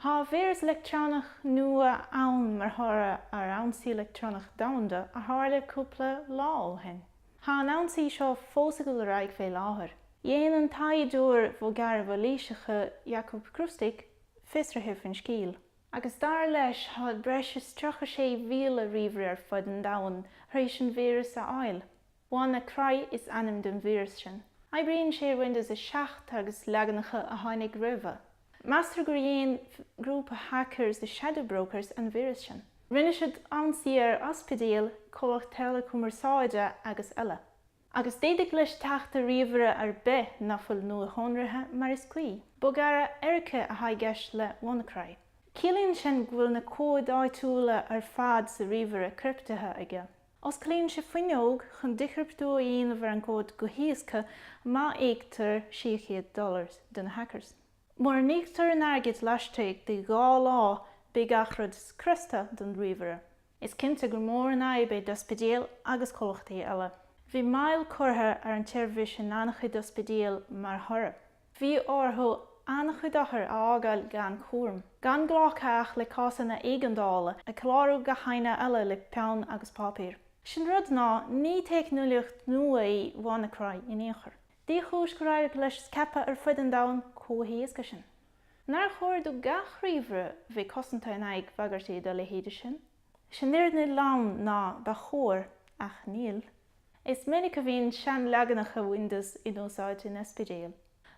Tá víreas leictreonach nua ann mar thoradh ar ionsaí leictreonach domhanda a tharla cúpla lá ó shin. Tá an ionsaí seo fós ag dul ar aghaidh fé láthair. Dhein an taighdeoir bhogearraí mhailíseacha Jakub Kroustek fiosruithe faoin scéal, agus dar leis thá breis is 36,000 ríomhaire ar fud an domhain tar éis an víreas a fháil. WannaCry is ainm don víreas sin. Oibríonn sé ar Windows 7 agus leaganacha a tháinig roimhe. Meastar gur dhéan grúpa hackers The Shadow Brokers an víreas sin. Rinne siad ionsaí ar ospidéil, comhlacht teileachumarsáide agus eile. Agus d'fhéadfadh leis teacht ar ríomhaire ar bith ná fuil nuashonraithe mar is cuí. Bogearra éirice athá i gceist le WannaCry. Ciallaíonn sin go bhfuil na comhaid áitiúla ar fad sa ríomhaire criptithe aige. Osclaíonn sé fuinneog chun díchriptiú a dhéanamh ar an gcomhad go héasca má íoctar 600 dollar do na hackers. Mura n-íoctar an airgead laistigh de dhá lá beidh gach rud scriosta den ríomhaire. Is cinnte gur mór an fhadhb í d'ospidéil agus comhlachtaí eile. Bhí moill curtha ar an tseirbhís in an-chuid ospidéal mar thoradh. Bhí orthu an-chuid othar a fhágáil gan chúram, gan glacadh ach le cásanna éigeandála, ag clárú gach éinne eile le peann agus páipéar. Sé an rud ná ní teicneolaíocht nua í WannaCry in aon chor. Dé chúis gur éirigh leis scaipeadh ar fud an domhain chomh héasca sin. Nár chóir do gach ríomhaire bheith cosanta in aghaidh bagairtí dá leithéid sin? Sé an fhírinne lom ná ba chóir, ach níl. Is minic a bhíonn seanleaganacha Windows in úsáid in ospidéil.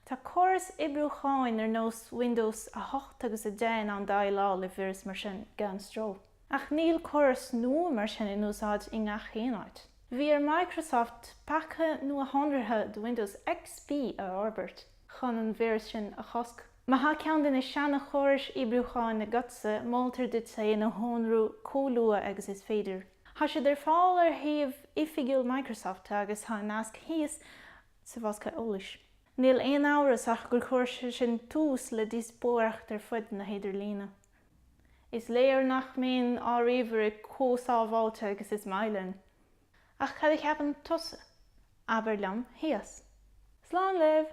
Tá córais oibriúcháin ar nós Windows 8 agus 10 in ann déileáil le víris mar sin gan stró. Ach níl córais nua mar sin in úsáid i ngach aon áit. Bhí ar Microsoft paca nuashonraithe do Windows XP a fhorbairt chun an víreas sin a chosc. Má thá ceann de na seana-chórais oibriúcháin agatsa, moltar duit é a nuashonrú comh luath agus is féidir. Thá siad ar fáil ar shuíomh oifigiúil Microsoft agus thá an nasc thíos sa bhosca eolais. Níl aon amhras ach gur chuir sé sin tús le díospóireacht ar fud na hidirlíne. Is léir nach mbíonn ár ríomhairí comh sábháilte agus is maith linn. Ach cad a cheapann tusa? Abair liom thíos. Slán libh!